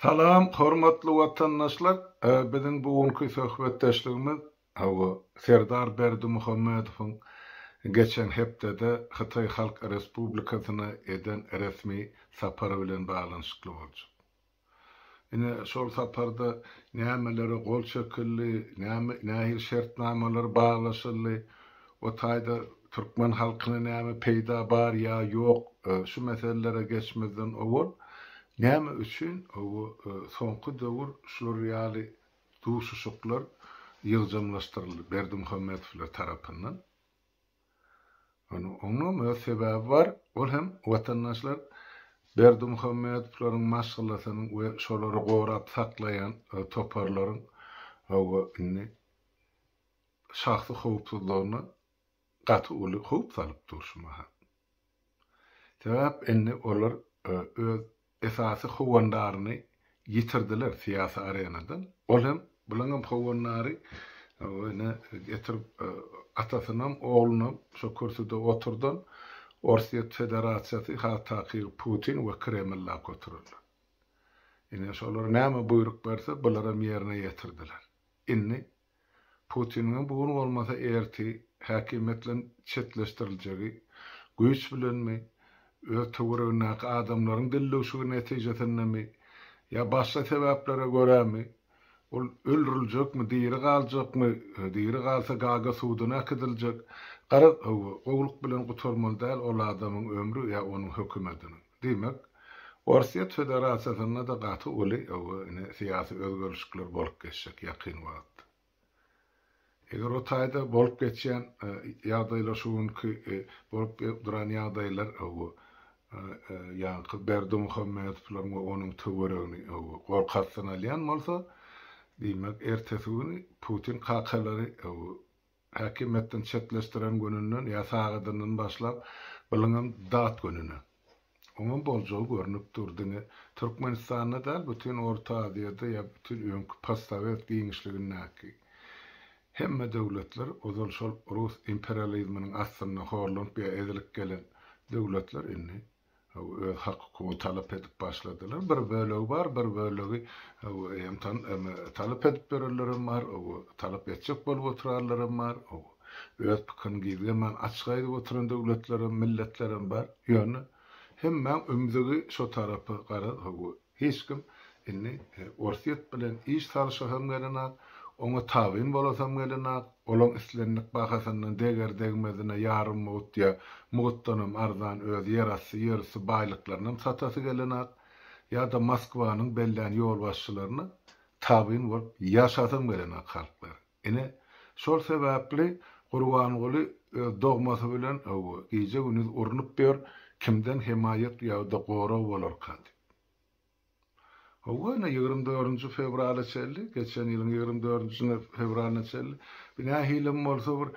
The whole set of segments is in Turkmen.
Salam, hormatly watandaşlar! Biziň bu günki söhbetdeşligimiz, hawa, Serdar Berdimuhamedowyň geçen hepdede Hytaý Halk Respublikasyna eden resmi sapary bilen baglanyşykly boljak. Ine, şol saparda nämelere gol çekildi, näme, nähili şertnamalar baglaşyldy, o taýda türkmen halkyna näme peýda bar ýa ýok, şu meselelere geçmezden owal, näme üçin bu soňky döwür şular ýaly duşuşyklar ýygjamlaşdyryldy Berdimuhamedowlar tarapyndan? Munuň oňam öz sebäbi bar, ol hem watandaşlar Berdimuhamedowlaryň maşgalasynyň we şolary gorap saklaýan toparlaryň hawa indi şahsy howpsuzlygyna gaty uly howp salyp dur şu mahal. Sebäp indi olar öz esasy howandaryny ýitirdiler syýasy arenadan. Ol hem, bulaň hem howandary ine getirip atasynam, oglunam şo kürsüde oturdan Orsýet Federasiýasy has takygy Putin we Kreml lak oturanlar. Ine şolar näme buýruk berse bularam ýerine ýetirdiler. Indi Putiniň bu gün bolmasa erti häkimiýetden çetleşdiriljegi, güýç bilenmi, öz töweregindäki adamlaryň dillewşigi netijesindemi ýa başga sebäplere görämi, ol öldüriljekmi, diri galjakmy, diri galsa Gaga suduna äkidiljek, garaz, hawa, gowulyk bilen gutarmaly däl ol adamyň ömri ýa onuň hökümetiniň. Diýmek, Orsýet Federasiýasynda-da gaty uly syýasy özgerişikler bolup geçjek ýakyn wagtda. Eger o taýda bolup geçýän ýagdaýlar şu günki bolup duran ýagdaýlar ýaňky Berdimuhamedowlaryň we onuň töweregini gorkakdan alýan bolsa, diýmek, ertesi güni Putin kakalary Häkimiýetden çetleşdiren gününden ýa sagadyndan başlap biliňem dat gününe. Oňam boljagy görnüp dur diňe Türkmenistanda däl bütin Orta Aziýada ýa bütin öňki possowet giňişligindäki hemme döwletler ozal şol rus imperializminiň astynda horlanyp ýa ezilip gelen döwletler indi öz hakykugyny talap edip başladylar. Bir bölegi bar, bir bölegi hem tan em talap edip ýörenlerem bar, talap etjek bolup oturarlarem bar, öz pikirini gizleman açyk aýdyp oturan döwletlerem, milletlerem bar. Ýöne hemmäň ümzügi şo tarapa garaz, Hiç kim indi Orsýet bilen iş salyşasam gelenok, oňa tabyn bolasam gelenok, olaň islendik bahasyndan deger-degmezine ýarym mugt ýa mugtdanam arzan öz ýerasty, ýerüsti baýlyklarynam satasy gelenok, ýa-da Moskwanyň bellän ýolbaşçylaryna tabyn bolup ýaşasam gelenok halklar. Ine, şol sebäpli Gurbanguly öz dogmasy bilen, hawa, gije-gündiz urnup ýör, kimden hemaýat ýa-da gorag bolarka diýip. Hawa, ine, ýigrimi dördünji fewrala çenli, geçen ýylyň ýigrimi dördünji fewralyna çenli, bu nähilem bolsa bir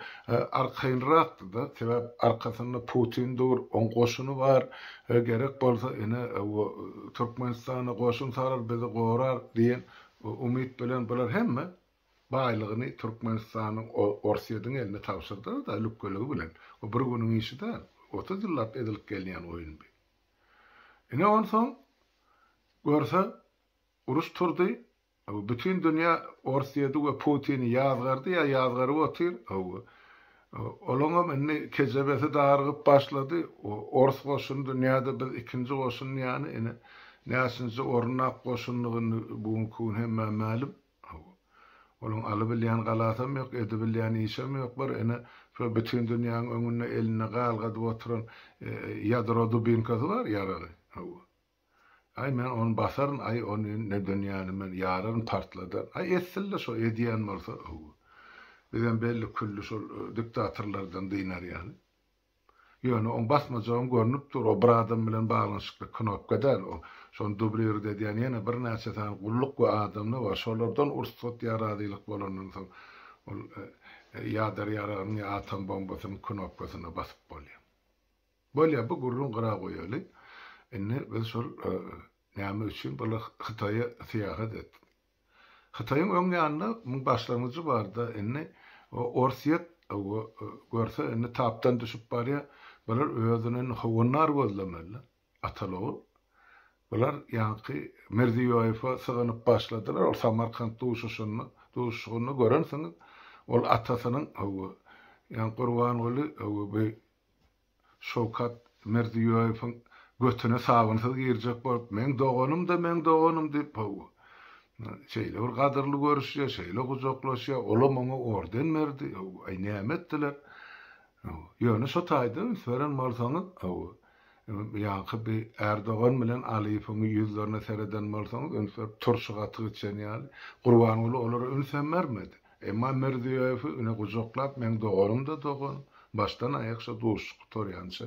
arkaýynrakdy-da, sebäp arkasynda Putin dur, oň goşuny bar, gerek bolsa, ine, hawa, Türkmenistana goşun salar, bizi gorar diýen umyt bilen bular hemme baýlygyny Türkmenistanyň Orsýediň eline tabşyrdylar-da lükgeligi bilen. Bu bir günüň işi däl. Otuz ýyllap edilip gelýän oýun bi. Ine onsoň görse uruş turdy, hawa bütin dünýä Orsýedi we Putini ýazgardy ýa ýazgaryp otyr, hawa olaňam indi kejebesi dargyp başlady, ors goşuny dünýäde biz ikinji goşun ýany ine näçinji orun ak goşundygy indi bu günki gün hemmä mälim. Hawa. Onuň alybilýän galasam ýok, edibilýän işem ýok. Bir ene şo bütin dünýäň öňünde elinde galgadyp oturan ýadro dubinkasy bar, ýaragy. Hawa. Aý, men ony basaryn, aý, ony ne dünýäni men ýararyn, partladaryn. Aý, etsin-le şo, edýän bolsa. Hawa. Bizem belli külli şol diktatorlardan dynarýaly. Ýöne oň basmajagam görnüp dur, o bir adam bilen baglanyşykly knopka däl, o, şony dublirit edýän ýene birnäçe sany gulluk we adamlar bar, şolardan ursat ýa razylyk bolandan soň ol ýader ýaragynyň ýa atom bombasynyň knopkasyna basyp bolýar. Bolýa, bu gürrüň gyra goýaly. Indi biz şol näme üçin bular Hytaýa syýahat etdi? Hytaýyň öň ýanynda muň başlangyjy barda indi Orsýet görse indi tapdan düşüp barýa bular özüni indi howandar gözlemeli Atalyogul bular ýaňky Mirziýoýewe syganyp başladylar ol Samarkant duşuşynda duşuşygynda görensiňiz ol atasynyň Gurbanguly Şowkat Mirziýoýewiň götüne sabynsyz girjek bolup, Meň doganym-da, meň doganym diýip, haw, şeýle bir gadyrly görüşýär, şeýle gujaklaşýar, olam oňa orden berdi, haw, aý, näme etdiler? Haw, ýöne şo taýda üns beren bolsaňyz, haw, ýaňky bi Erdogan bilen Aliýewiň ýüzlerine sereden bolsaňyz, üns berip, turşy gaty geçen ýaly, Gurbanguly olara üns hem bermedi. Emma Mirziýoýewi ine gujaklap meň doganym-da dogan, başdan aýak şo duşuşyk gutarýança.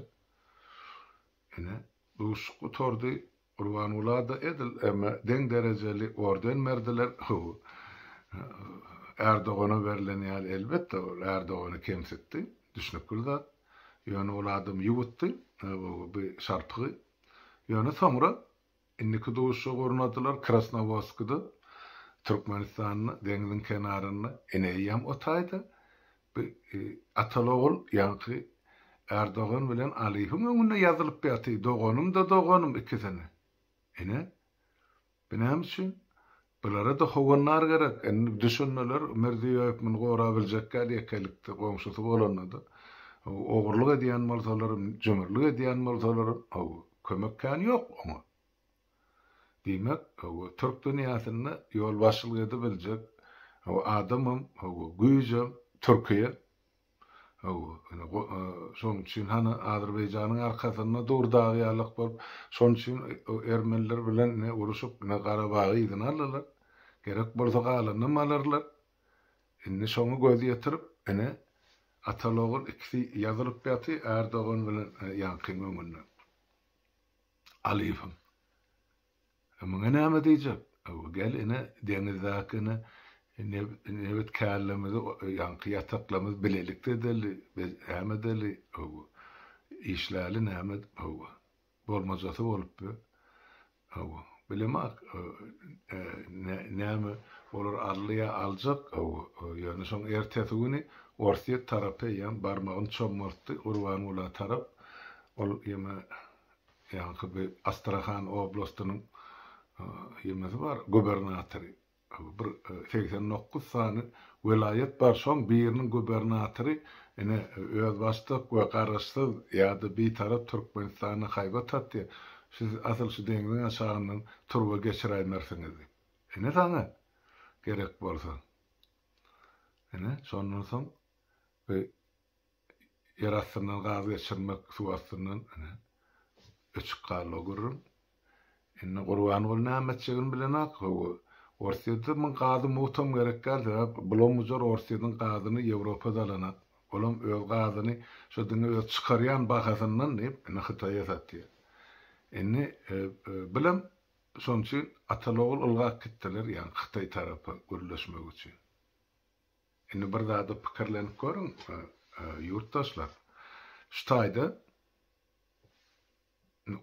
Ine, duşuşyk gutardy, Gurbanguly-da edil eme deň derejeli orden berdiler, hoo, Ärdogana berlen ýaly elbetde ol Ärdogany kemsitdi, düşnükli zat, ýöne ol adam ýuwutdy, hoo, bu şarpygy, ýöne soňra Indiki duşuşyk ornadylar Krasnowodskda, Türkmenistanda, deňziň kenarynda. Ene eýýäm o taýda. Bu atal-ogul ýaňky Ärdogan bilen Alyýewiň öňünde ýazylyp ýaty, doganym-da doganym ikisine. Ene, bu näme üçin? Bulara-da howandar gerek. Indi düşüneler, Mirziýoýew muny gorabiljekkä ýekelikde, goňşusy bolanda-da, ogurlyk edýän bolsalaram, jümürlik edýän bolsalaram, hawa, kömek kän ýok oňa. Diýmek, hawa, türk dünýäsinde ýolbaşçylyk edibiljek, hawa, adamam, hawa, güýjem Türkiýe. Hawa, ine, şonuň üçin hany Azerbaýjanyň arkasynda dur dagy ýalak bolup, şonuň üçin ermeniler bilen ine uruşyp, ine Garabagy yzyna aldylar. Gerek bolsa galanynam alarlar. Indi şoňa göz ýetirip, ine, atal-ogul ikisi ýazylyp ýaty, Ärdogan bilen ýaňkyň öňünde. Alyýewiň. E, muňa näme diýjek? E, gel ine, deňizdäki ine, nebetkärlerimizi, ýaňky ýataklarymyzy bilelikde edeli, näme edeli, hawa, işläli, näme, hawa, bolmajasy bolup be, hawa, bilemak, e, näme, olar alýa, aljak, hawa, ýöne şoň ertesi güni Orsýet tarapy eýýäm barmagyny çommaltdy Gurbanguly tarap, ol ýeme Ýaňky bir Astrahan oblastynyň ýemesi bar, gubernatory. Bir segsen dokuz sany welaýat bar, şoň biriniň gubernatory ine özbaşdak we garaşsyz ýa-da bitarap Türkmenistana haýbat atýar. Siz asyl şu deňziň aşagyndan turba geçiräýmersiňiz diýip. Ine saňa gerek bolsa. Ine şondan soň bir ýer astyndan gaz geçirmek, suw astyndan ine, öçük galla gürrüň. Indi Gurbanguly näme etjegini bilenok. Hawa, Orsýetde muň gazy muhtam gerek däl, sebäp bulam-bujar Orsýetiň gazyny Ýewropada alanak. Olam öz gazyny şo diňe öz çykarýan bahasyndan diýip, indi Hytaýa satýar. Indi bilem şonuň üçin atal-ogul ylgap gitdiler, ýagny Hytaý tarapa gürleşmek üçin. Indi bir zada pikirlenip görüň, ýurtdaşlar. Şu taýda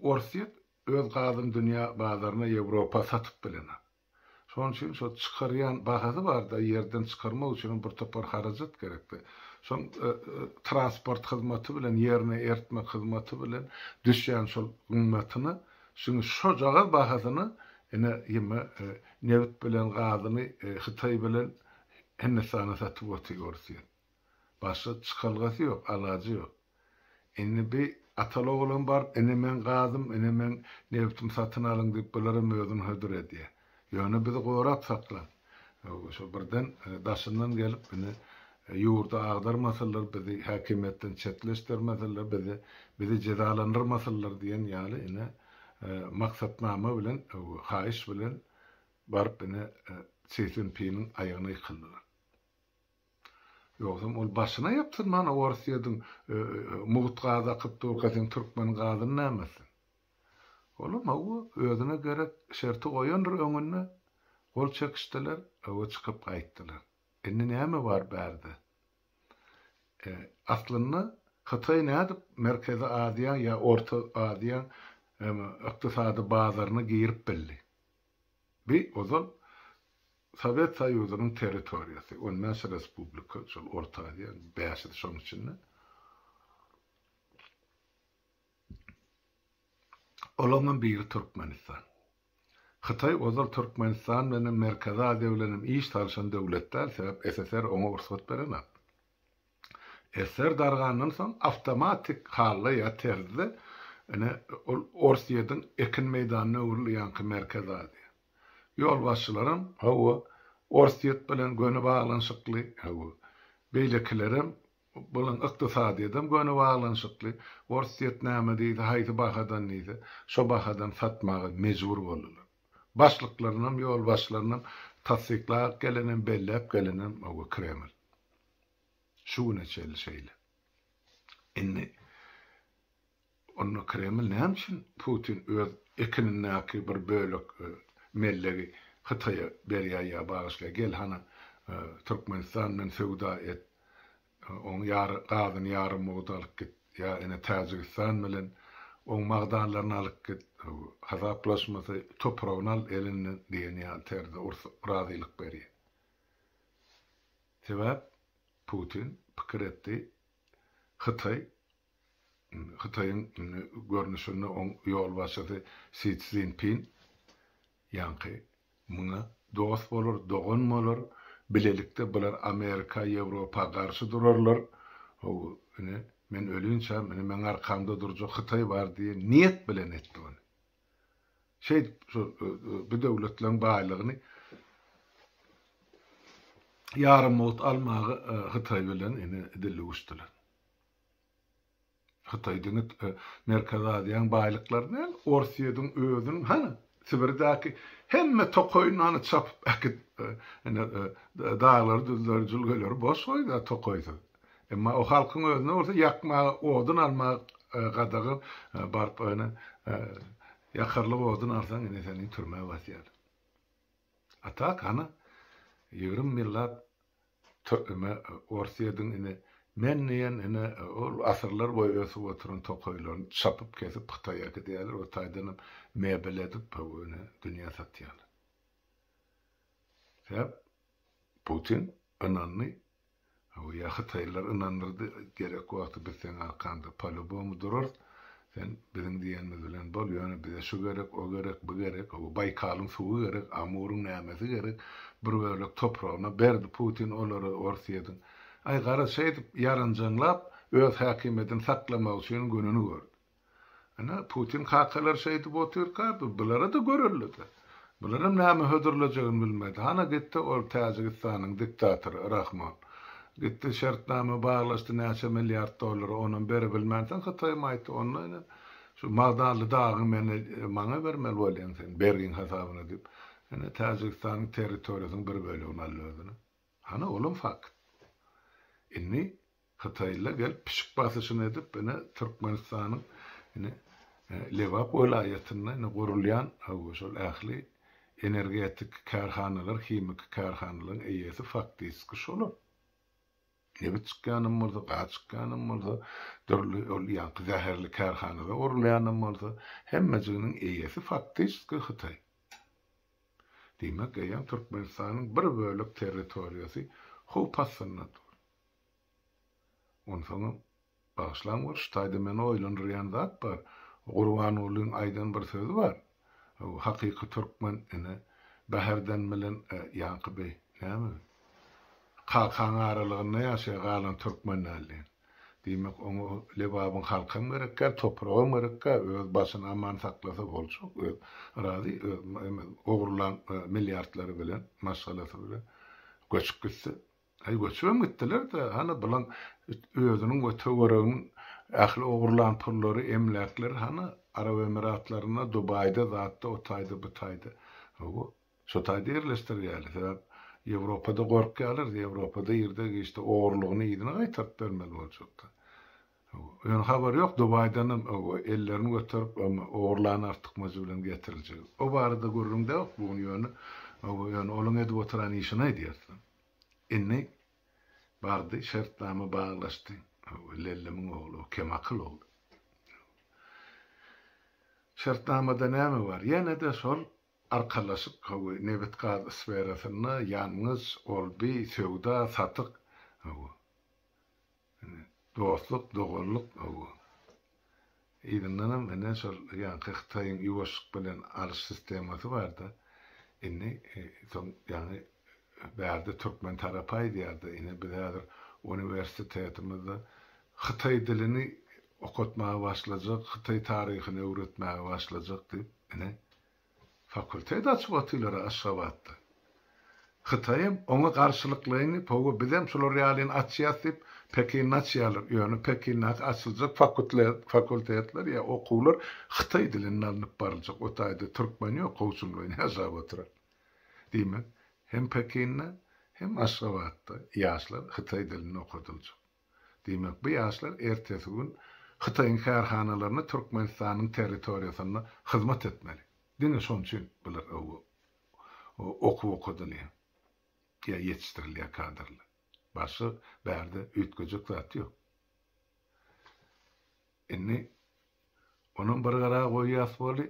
Orsýet öz gazyny dünýä bazaryna, Ýewropa satyp bilenok. Şonuň üçin şo çykarýan bahasy bar-da, ýerden çykarmak üçinem bir topar harajat gerek-de. Şoň transport hyzmaty bilen, ýerine eritmek hyzmaty bilen düşýän şol gymmatyna, şuny şojagaz bahasyna ine ýeme nebit bilen gazyny Hytaý bilen Hindistana satyp otyr orsýet. Başga çykalgasy ýok, alajy ýok. Indi bi atal-oglan baryp ine meň gazym, ine meň nebtim satyn alyň diýip bularam özüni hödür edýä. Ýöne bizi gorap saklaň. Şo birden daşyndan gelip indi ýurdy agdarmasynlar, bizi häkimiýetden çetleşdirmesinler, bizi bizi jezalandyrmasynlar diýen ýaly ine maksatnama bilen, haýyş bilen Baryp ine Si Szinpiniň aýagyna ýykyldylar. Ýogsam ol başyna ýapsynman Orsýediň mugt gaz akyp durka seň türkmen gazyny näme etsin. Olam hawa özüne gerek şerti goýandyr öňünde gol çekişdiler hawa çykyp gaýtdylar. Indi näme bar bärde. Aslynda Hytaý nädip Merkezi Aziýa ýa Orta Aziýa ykdysady bazaryna girip bildi. Bi ozal Sowet Soýuzynyň territoriýasy, on bäş respublika, şol Orta Aziýanyň bäşisi şoň içinde. Olaňam biri Türkmenistan. Hytaý ozal Türkmenistan bilenem Merkezi Aziýa bilenem iş salyşan döwlet däl, sebäp SSR oňa rugsat berenok. Eser dargandan soň awtomatik hally ýa terzde ine ol Orsýetiň ekin meýdanyna öwrüldi ýaňky Merkezi Aziýa. Ýolbaşçylaram hawa Orsýet bilen göni baglanyşykly hawa beýlekilerem bulan ykdysadyýetem göni baglanyşykly Orsýet näme diýse haýsy bahadan diýse şo bahadan satmaga mejbur boldular. Başlyklarynam, ýolbaşçylarynam tassyklap gelenem, belläp gelenem oba Kreml. Şu güne çenli şeýle. Indi onda Kreml näme üçin Putin öz ekinindäki bir bölek e, mellegi Hytaýa berýär ýa bagyşlaýar, gel hana e, Türkmenistan bilen söwda et Oň ýary gazyny ýary mugdy alyp git. Ýa ene Täjigistan bilen oň magdanlaryny alyp git. Hasaplaşmasy topragyny al elinden diýen ýaly terzde ursup razylyk berýär. Sebäp Putin pikir etdi, Hytaý, Hytaýyň görnüşinde oň ýolbaşçysy Si Szinpin Ýaňky muňa dost bolar, dogan bolar, bilelikde bular Amerika, Ýewropa garşy durarlar, how, ine, men ölinçäm, ine, meň arkamda durjak Hytaý bar diýen niýet bilen etdi ony. Şeýdip, şu bu döwletleriň baýlygyny ýarym wagt almaga Hytaý bilen, ine, dil öwüşdiler. Hytaý diňe Merkezi Aziýaň baýlyklary däl, Orsýediň özüniň, hany, Sibirdäki hemme tokaýynany çapyp äkidip, ine, daglary-düzleri, jülgeleri boş goýdy-a tokaýsyz. Emma o halkyň özüne bolsa ýakmaga odun almak gadagan, baryp, ine, ýakarlyk odun alsaň, ine, seni türmä basýarlar. A tak, hany, ýigrimi ýyllap Tü eme ors ýediň ine. Men diýen ine ol asyrlar boýy ösüp oturan tokaýlaryny çapyp kesip hytaýa äkidýärler o taýdanam mebel edip haw ine dünýä satýarlar. Sebäp Putin ynandy haw ýa hytaýlylar ynandyrdy gerek wagty biz seň arkanda po lýubomu durarys Sen biziň diýenimiz bilen bol, ýöne bize şu gerek, o gerek, bu gerek, o Baýkalyň suwy gerek, Amuryň nämesi gerek, bir bölek topragyna berdi Putin olary Orsýediň. Aý, garaz, şeýdip ýaranjaňlap, öz häkimiýetini saklamak üçin gününi gördi. Ine, Putin kakalar şeýdip otyrka, bulara-da görelde-de. Bularam näme hödürlejegini bilmedi. Hana gitdi ol Täjigistanyň diktatory Rahmon. Gitdi şertnama baglaşdy näçe milliard dollara, onam berebilmänsoň Hytaýym aýtdy, onda ine, şu Magdanly dagyňy meni, maňa bermeli bolýaň sen, bergiň hasabyna diýip, ine Täjigistanyň territoriýasynyň bir bölegini aldy özüne. Hany olam fakt. Inni Hytaýlylar gelip pişik basyşyny edip ine Türkmenistanyň ine Lebap welaýatynda ine gurulýan hawa şol ähli energetik kärhanalar himiki kärhanalaryň eýesi faktiski şolar. Nebit çykýanam bolsa gaz çykýanam bolsa dürli ol ýaňky zäherli kärhanada gurulýanam bolsa hemmejiginiň eýesi faktiski Hytaý. Diýmek, eýýäm Türkmenistanyň bir bölek territoriýasy howp astynda dur. Onsoňam, bagyşlaň bir şu taýda meni oýlandyrýan zat bar. Gurbangulyň aýdan bir sözi bar. Hakyky türkmen, ine, Bäherden bilen ýaňky beý, näme, kakaň aralygynda ýaşaýar, galan türkmen däl diýen. Diýmek, oňa Lebabyň halkam gerekgär, topragam gerekgär, öz başyny aman saklasa boljak, öz razy, öz eme, ogurlan milliardlary bilen, maşgalasy bilen göçüp gitse. Aý, göçübem gitdiler-dä, hany bulan özüniň we töwereginiň ähli ogurlan pullary, emläkleri hany Arap Emiratlarynda, Dubaýda, zatda, o taýda, bu taýda. Hawa, Şo taýda ýerleşdirýäli. Sebäp Ýewropada gorkýalar. Ýewropada irde giçde ogrulygyny yzyna gaýtaryp bermeli boljakda. Ýöne habar ýok Dubaýdanam ellerini göterip ogrulan artykmajy bilen getiriljegi. O barada gürrüňde ýok bu gün ýöne ýöne olyň edip oturan işini aýdýarsyň. Indi bardy şertnama baglaşdy. Lellemiň ogly o kemakyl ol. Şertnamada näme bar? Ýene-de şol Arkalaşyk we nebit-gaz sferasynda ýangyç, olbi, söwda, satyk, dostluk, doganlyk, yzyndan hem ine şol ýaňky Hytaýyň ýuwaşlyk bilen alyş sistemasy barda, indi soň ýaňy bärde türkmen tarapy aýdýardy, ine biz häzir uniwersitetimizde hytaý dilini okatmaga başlajak, hytaý taryhyny öwretmäge başlajak diýip. Ine, fakultet açyp otylar-a Aşgabatda. Hytaýam oňa garşylyklaýyny, Hawa, bizem şular ýalyny açýas diýip, Pekinde açýarlar. Ýöne Pekindäki açyljak fakultetler ýa okuwlar hytaý dilinde alnyp baryljak. O taýda türkmen ýok, gowşuňlaýyn ýaşap oturan. Diýmek, hem Pekinde, hem Aşgabatda ýaşlar hytaý dilinde okadyljak. Diýmek, bu ýaşlar ertesi gün Hytaýyň kärhanalarynda Türkmenistanyň territoriýasynda hyzmat etmeli. Diňe şoň üçin bular öwgi okuw okadylýar. Ýa ýetişdirilýär kadrlar. Başga bärde üýtgejek zat ýok. Indi onam bir gara goýýas boldy.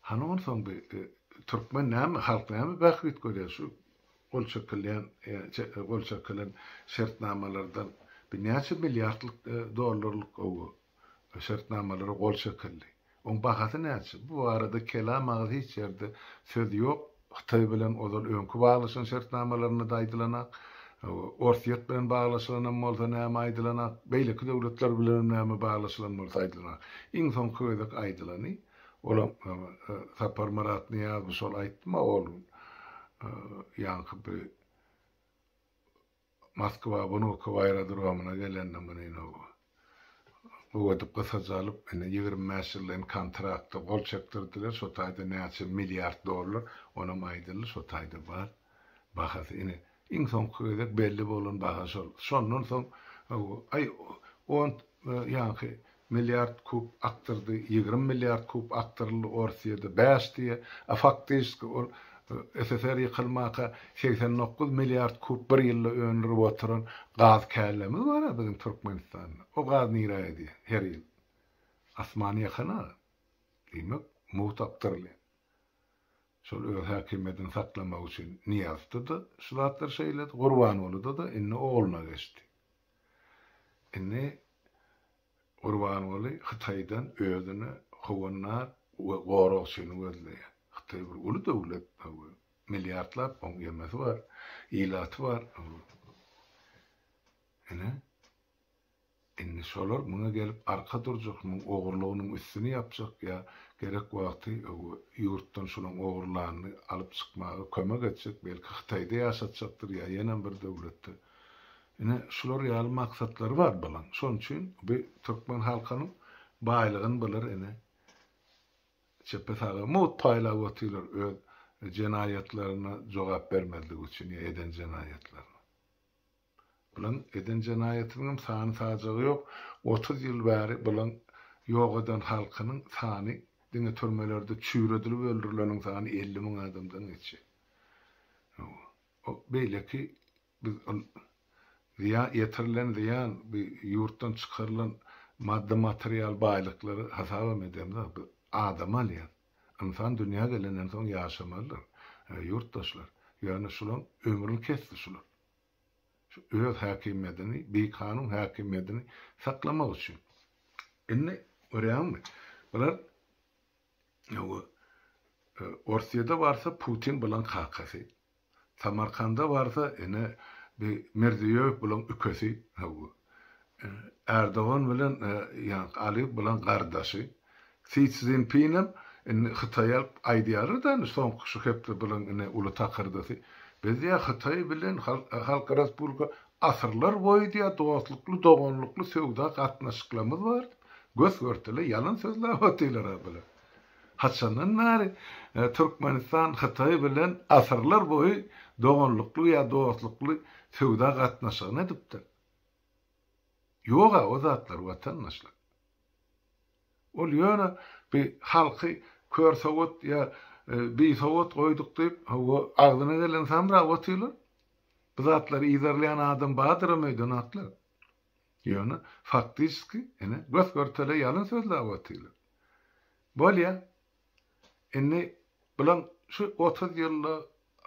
Hany onsoň bi türkmen näme halk näme bähbit görýär şu gol çekilýän gol çekilen şertnamalardan bi näçe milliardlyk dollarlyk şertnamalara gol çekildi oň bahasy näçe bu barada kelam agyz hiç ýerde söz ýok Hytaý bilen ozal öňki baglaşan şertnamalarynda-da aýdylanak, Orsýet bilen baglaşylanam bolsa näme aýdylanak, beýleki döwletler bilenem näme baglaşylan bolsa aýdylanak. Iň soňky gezek aýdylany, olam Saparmyrat Nyýazow şol aýtdym-a ol gün, ýaňky bir Moskwa wnukow aerodromyna gelende muny inowa gögedip gysaja alyp indi ýigrimi bäş ýyllyyn kontrakta gol çekdirdiler şo taýda näçe milliard dollar onam aýdyldy şo taýda bar bahasy ine iň soňky gezek belli bolan baha şol şondan soň aý on ýaňky milliard kub akdyrdy, ýigrimi milliard kub akdyryldy, Orsýede bäş diýe, a faktyşski ol SSR ýykylmaka segsen dokuz milliard kub bir ýylda öndürip oturan gaz källemiz bar a biziň Türkmenistanda, o gaz nirä gidýä her ýyl? Asmana ýakyn a, diýmek mugt akdyrylýa. Şol öz häkimiýetini saklamak üçin Nyýazda-da şu zatlary şeýledi, Gurbangulyda-da, indi ogluna geçdi. Indi Gurbanguly Hytaýdan özüne howannar we goragçyny gözleýär. Hytaý bir uly döwlet, milliardlap oň gemisi bar, ilaty bar. Ine, Indi şolar muňa gelip arka durjak, muň ogurlygynyň üstüni ýapjak ýa gerek wagty ýurtdan şolaň ogurlanyny alyp çykmaga kömek etjek, belki Hytaýda ýaşatjakdyr ýa ýenem bir döwletde. Ine şular ýaly maksatlary bar bulaň. Şonuň üçin bu türkmen halkynyň baýlygyny bular ine çepe saga mugt paýlap otyrlar öz jenaýatlaryna jogap bermezligi üçin ýa eden jenaýatlaryna. Bulan eden jenaýatynyňam sany sajagy ýok, otuz ýyl bäri bulan ýok eden halkynyň sany diňe türmelerde çüýredilip öldürileniň sany elli müň adamdan geçýär. Hawa. O beýleki biz ol zyýa ýetirilen zyýan bu ýurtdan çykarylan maddy material baýlyklary hasabam edemzok biz adamy alýas. Ynsan dünýä gelenden soň ýaşamalydyr. Ýurtdaşlar ýöne şulaň ömrüni kesdi şular. öz häkimiýedini, bikanun häkimiýedini saklamak üçin. Indi görýäňmi, bular Orsýede barsa Putin bulaň kakasy, Samarkanda barsa ene bi Mirziýoýew bulaň ükesi, Erdogan bilen Aliýew bulaň gardaşy. Si Szinpinem indi Hytaýy alyp aýdýarlar da indi soňky şu hepde bulan indi uly takyrdysy. Biz diýýär Hytaý bilen Halk Respublika asyrlar boýy diýýär dostlukly doganlykly söwda gatnaşyklarymyz bar diýip gös görtele ýalan sözläp otyrlara bular. Haçandan bäri Türkmenistan Hytaý bilen asyrlar boýy doganlykly ýa dostlukly söwda gatnaşygyny edipdir. Ýoga o zatlar watandaşlar. Ol ýöne bi halky kör sowat ýa bisowat goýduk diýip, hawa, agzyna geleni samrap otyrlar. Bu zatlary yzarlaýan adam bardyram öýden atlap. Ýöne faktiçki, ine, gös-görtele ýalyn sözläp otyrlar. Bolýa, Indi bilen şu otuz ýylda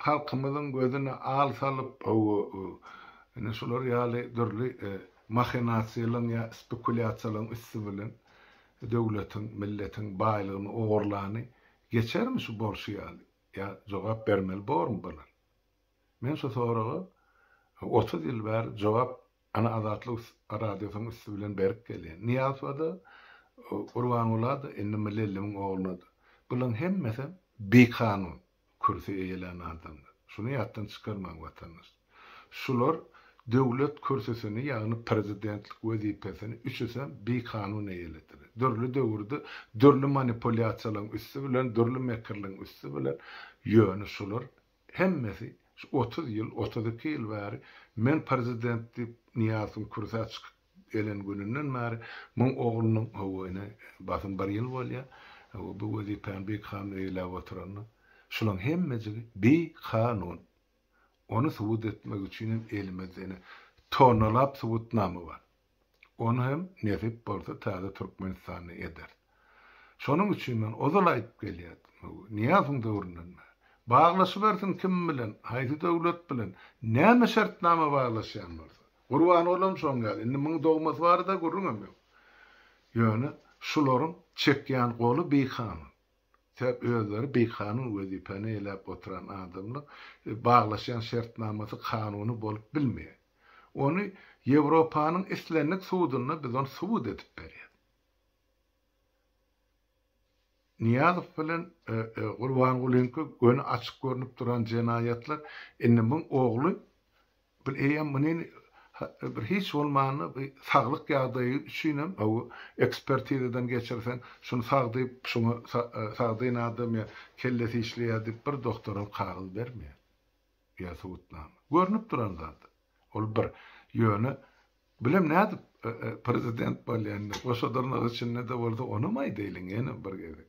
halkymyzyň gözüne al salyp, indi şular ýaly dürli mahinasiýalaryň ýa spekulýasiýalaryň üsti bilen döwletiň, milletiň baýlygyny ogurlany geçermi şu bolşy ýaly? Ýa jogap bermeli bormy bular? Men şu soraga otuz ýyl bäri jogap Ana Azatlyk Radiosynyň üsti bilen berk gelýän. Nyýazowa-da, Gurbangula-da, indi Myllyllimiň ogluna-da. Bularyň hemmesem bikanun kürsi eýelän adamlar. Şuny ýatdan çykarmaň, watandaş. Şular döwlet kürsüsini, ýagny prezidentlik wezipesini üçüsem bikanun eýelediler. Dürli döwürde dürli manipulýasiýalaryň üsti bilen, dürli mekirligiň üsti bilen, ýöne şular Hemmesi şu otuz ýyl, otuz iki ýyl bäri men prezident diýip Nyýazowyň kürsä çykyp gelen gününden bäri muň oglunyň, hawa ine basym bir ýyl bolýar, hawa bu wezipäni bikanun eýeläp oturanyna, şulaň hemmejigi bikanun. Ony subut etmek üçin hem elimizde ine tonnalap subutnama bar. Ony hem nesip bolsa täze Türkmenistanda ederis. Şonuň üçin men ozal aýdyp gelýärdim, Nyýazowyň döwründen bäri. Baglaşybersin kim bilen, haýsy döwlet bilen, näme şertnama baglaşýan bolsa. Gurbangulam şoň ýaly, indi muň dogmasy barada gürrüňem ýok. Ýöne şularyň çekýän goly bikanun. Sebäbi özleri bikanun wezipäni eýläp oturan adamlar baglaşýan şertnamasy kanuny bolup bilmeýär. Ony Ýewropanyň islendik sudunda biz ony subut edip berýäs. Nyýazow bilen Gurbangulynyňky göni açyk görnüp duran jenaýatlar, indi muň ogly Bir eýýäm muny bir hiç bolmanda bir saglyk ýagdaýy üçinem bu ekspertizadan geçirseň şuny sag diýip şuňa sagdyn adam ýa kellesi işleýär diýip bir doktoram kagyz bermeýär ýa subutnama. Görnüp duran zat. Ol bir. Ýöne bilem nädip prezident bolýanyny goşa dyrnak içinde-de bolsa onam aýdaýlyň ýene bir gezek.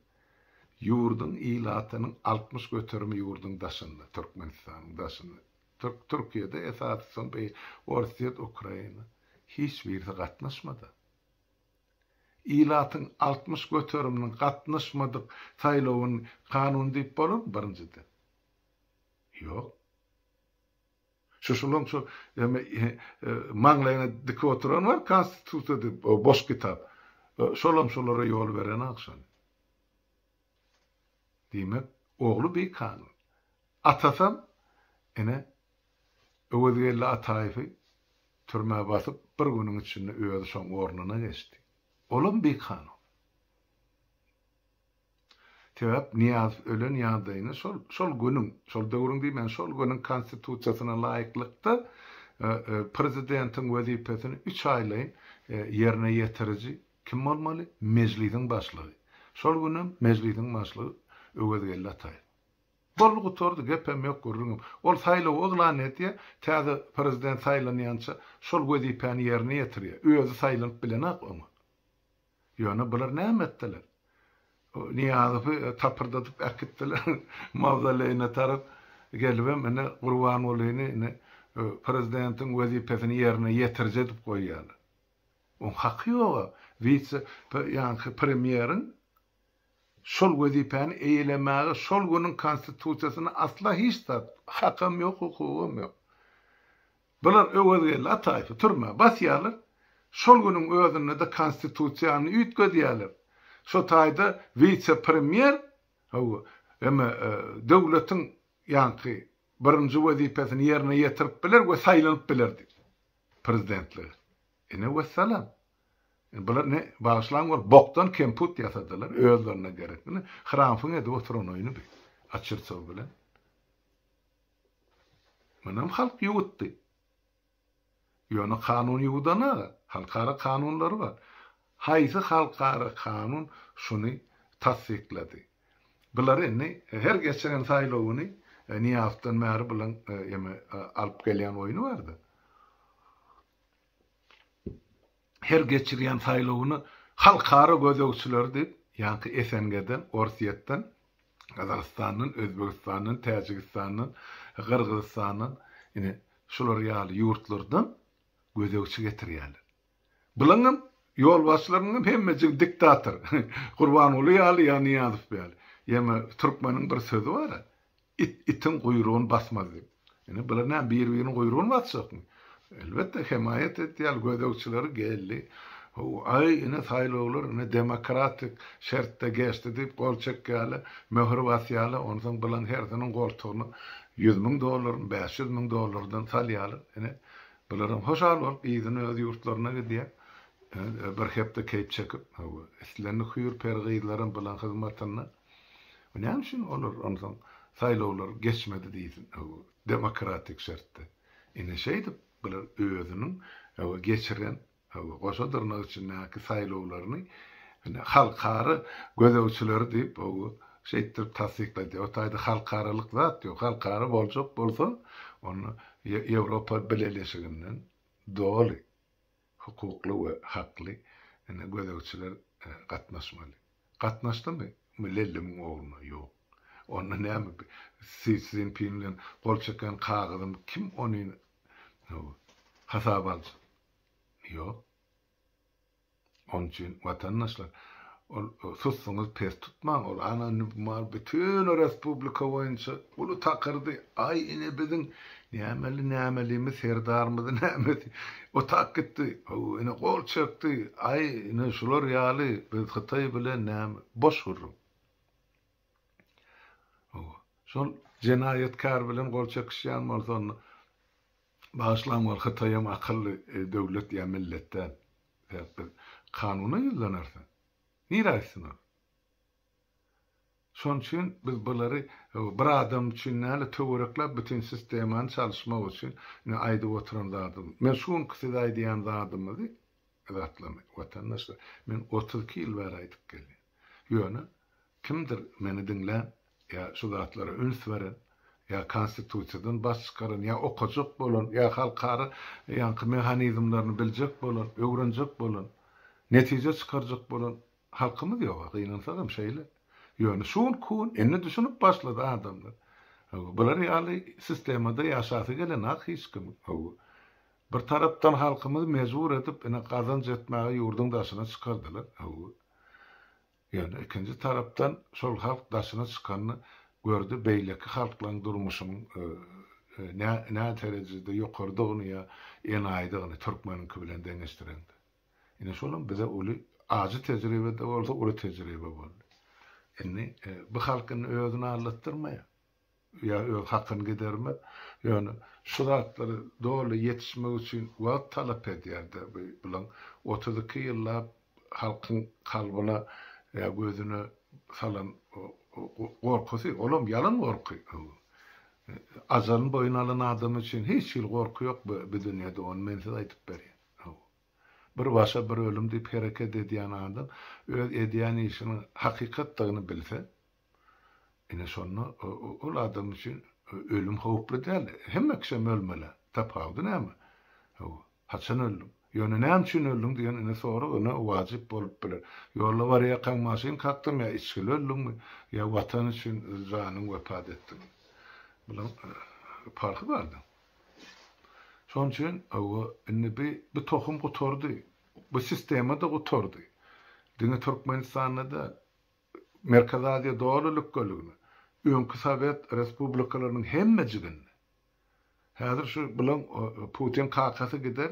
Ýurduň ilatynyň altmyş göterimi ýurduň daşynda Türkmenistanyň daşynda. Türk Türkiýede esasy soň beý Orsýet Ukraina hiç birisi gatnaşmada. Ilatyň altmyş göteriminiň gatnaşmadyk saýlawyn kanun diýip bolarmy birinjiden? Ýok. Şu şulaň şu maňlaýyna dikip oturan bar konstitusiýa diýip boş kitap. Şolam şolara ýol berenok şony. Diýmek ogly beý kanun. Atasam, ine, Öwezgeldi Ataýewi türmä basyp, bir günüň içinde özi şoň ornuna geçdi. Olam bikanun. Sebäp Nyýazow ölen ýagdaýyna şol, şol günüň, şol döwrüň diýmän, şol günüň Konstitusiýasyna laýyklykda prezidentiň wezipesini üç aýlaýyn ýerine ýetiriji kim bolmaly? Mejlisiň başlygy. Şol günem Mejlisiň başlygy Öwezgeldi Ataýew. Boldy gutardy gepem ýok gürrüňem. Ol saýlawy yglan edýär, täze prezident saýlanýança şol wezipäni ýerine ýetirýär. Özi saýlanyp bilenak oňa. Ýöne bular näme etdiler? Nyýazowy tapyrdadyp äkitdiler mawzoleýine tarap. Gelibem ine Gurbangulyny ine prezidentiň wezipesini ýerine ýetiriji edip goýýarlar. Oň haky ýog-a wise ýaňky premýeriň. Şol wezipäni eýelemäge şol günüň Konstitusiýasynda asla hiç zat, hakam ýok, hukugam ýok. Bular Öwezgeldi Ataýewi türmä basýarlar, şol günüň özünde-de Konstitusiýany üýtgedýärler. Şo taýda wise-premýer, hawa, eme, döwletiň ýaňky birinji wezipesini ýerine ýetirip biler we saýlanyp bilerdi prezidentlige. Ine, wessalam. Indi bular ne bagyşlaň bol bokdan kemput ýasadylar özlerine gerekini hramfyň edip oturanyny bi açyrsow bilen Munam halk ýuwutdy. Ýöne kanun ýuwudana halkara kanunlary bar. Haýsy halkara kanun şuny tassyklady. Bular indi her geçiren saýlawyny Nyýazdan bäri bulaň eme alyp gelýän oýny barda. her geçirýän saýlawyny halkara gözegçileri diýip, ýaňky SNG-den, Orsýetden, Gazagystandan, Özbegistandan, Täjigistandan, Gyrgyzystandan, ine, şular ýaly ýurtlardan gözegçi getirýärler. Bulaň hem ýolbaşçylarynyň hem hemmejigi diktator. Gurbanguly ýaly ýa Nyýazow ýaly. Ýeme türkmeniň bir sözi bar-a, It itiň guýrugyny basmaz diýip. Ine bular näme biri biriniň guýrugyny basjakmy? Elbetde hemaýat edýäl gözegçileri geldi. Hawa aý ine saýlawlar ine demokratik şertde geçdi diýip gol çekýäle, möhür basýaly onsoň bulaň hersiniň goltugyna ýüz müň dollaryny bäş ýüz müň dollardan salýaly ine bularam hoşal bolup yzyna öz ýurtlaryna gidýä bir hepde keýp çekip hawa islendik hüýr peri gyzlaram bulaň hyzmatynda. Näme üçin olar onsoň saýlawlar geçmedi diýsin demokratik şertde. Ine şeýdip bular özüniň geçiren goşa dyrnak içindäki saýlawlaryny halkara gözegçileri diýip şeýtdirip tassyklaýdy. O taýda halkaralyk zat ýok. Halkara boljak bolsa onda Ýewropa bileleşiginden doly. Hukukly we hakly ine gözegçiler gatnaşmaly. Gatnaşdymy lellemuň ogluna ýok. Onda näme bi Si Szinpin bilen gol çeken kagyzymy kim ony how hasaba aljak. Ýok. Onuçin watandaşlar Ol susuňyz pes tutmaň ol ana nbmal bütün respublika boýunça uly takyrdy aý ine biziň nämeli nämelimi serdarmydy nämesi otap gitdi haw ine gol çekdi aý ine şular ýaly biz hytaý bilen näme boş gürrüň haw şol jenaýatkär bilen gol çekişýän bolsa onda bagyşlaň ol hytaýam akylly döwlet ýa millet däl sebäpli kanuna ýüzlenarse, nirä gitsin ol? Şonuň üçin biz bulary bir adam üçin däl-de, töwerekläp bütin sistemany çalyşmak üçin indi aýdyp oturan zadym. Men şu günki size aýdýan zadymyzy, zatlamy, watandaşlar, men otuz iki ýyl bäri aýdyp gelýän. Ýöne kimdir meni diňlän, ýa şu zatlara üns beren, ýa Konstitusiýadan baş çykaran, ýa okajak bolan, ýa halkara ýaňky mehanizmlerini biljek bolan, öwrenjek bolan, netije çykarjak bolan halkymyz ýog-a, gynansagam şeýle. Ýöne şu günki gün indi düşünip başlady adamlar. Hawa, bular ýaly sistemada ýaşasy gelen-ak hiç kimiň. Hawa, bir tarapdan halkymyzy mejbur edip, ine, gazanç etmäge ýurduň daşyna çykardylar. Hawa, Ýöne ikinji tarapdan şol halk daşyna çykanyny gördi beýleki halklaryň durmuşynyň nä nä terejede ýokarydygyny ýa enaýydygyny türkmeniňki bilen deňeşdireňde. Ine şolam bize uly ajy tejribede bolsa uly tejribe boldy. Indi bu halk indi özüni aldatdyrmaýar. ýa öz hakyny gidermez. Ýöne şu zatlar doly ýetişmek üçin wagt talap edýär-de, bu bilen otuz iki ýyllap halkyň kalbyna ýa gözüne salan gorkusy, olam ýalan gorky. Ajalyny boýun alan adam üçin hiç hili gorky ýok bu dünýede, ony men size aýdyp berýän. Hawa. Bir başa bir ölüm diýip hereket edýän adam öz edýän işiniň hakykatdygyny bilse, Ine şonda ol adam üçin ölüm howply däl. Hemme kişem ölmeli. Tapawudy näme? Hawa. Haçan öldüň? Ýöne näme üçin öldüň diýen ine sorag ine wajyp bolup biler. Ýolda barýarkaň maşyn kakdyň ýa içgili öldüňmi, ýa Watan üçin öz janyňy wepat etdiňmi? Bulaň parhy bardyr. Şonuň üçin hawa indi bi bu tohum gutardy. Bu sistema-da gutardy. Diňe Türkmenistanda däl. Merkezi Aziýa doly lükgerligine, öňki sowet respublikalarynyň hemmejiginde, häzir şu bilen Putin kakasy gider,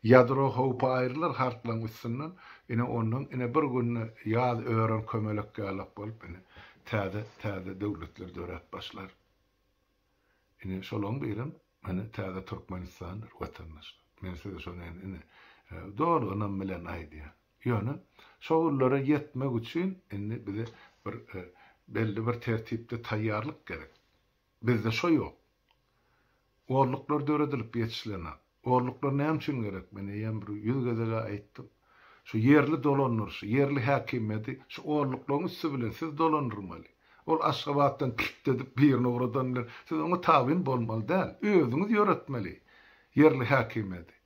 ýadro howpy aýrylar hartlaryň üstünden, ine ondan ine bir günde ýaz ören kömelek ýalak bolup ine täze täze döwletler döräp başlar. Ine şolaryň birem ine täze Türkmenistandyr watandaşlar. Men size şony indi ine doly ynam bilen aýdýan. Ýöne şo günlere ýetmek üçin indi bize bir belli bir tertipde taýýarlyk gerek. Bizde şo ýok. Olluklar döredilip ýetişilenok. Olluklar näme üçin gerek? Men eýýäm bir ýüz gezeg-ä aýtdym. Şu ýerli dolandyryşy, ýerli häkimiýeti şu olluklygyň üsti bilen siz dolandyrmaly. Ol Aşgabatdan kilt edip birini ugradan bilen siz oňa tabyn bolmaly däl. Özüňiz ýöretmeli ýerli häkimiýeti.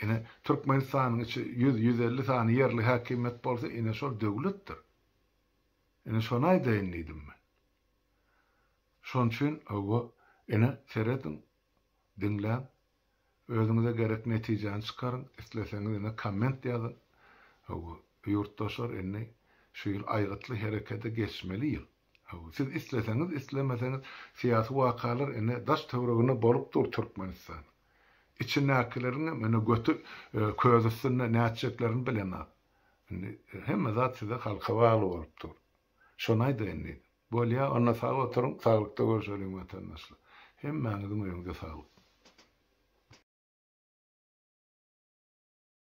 Ine, Türkmenistanyň içi ýüz, ýüz elli sany ýerli häkimiýet bolsa, ine, şol döwletdir. Ine, şony aýdaýyn diýdim men. Şon üçin, hawa, ine, serediň, diňläň, özüňize gerek netijäni çykaryň, isleseňiz, ine, komment ýazyň. Hawa, ýurtdaşlar, indi şu ýyl aýgytly herekete geçmeli ýyl. Hawa, siz isleseňiz, islemeseňiz, syýasy wakalar ine daş-töwreginde bolup dur Türkmenistan. Içindäkileriňem ine göti köz üstünde nätjeklerini bilenok. Indi hemme zat size halka bagly bolup dur. Şony aýdaýyn diýdim. Bolýa, onda sag oturyň, saglykda görüşeliň watandaşlar. Hemmäňiziň öýüňize saglyk.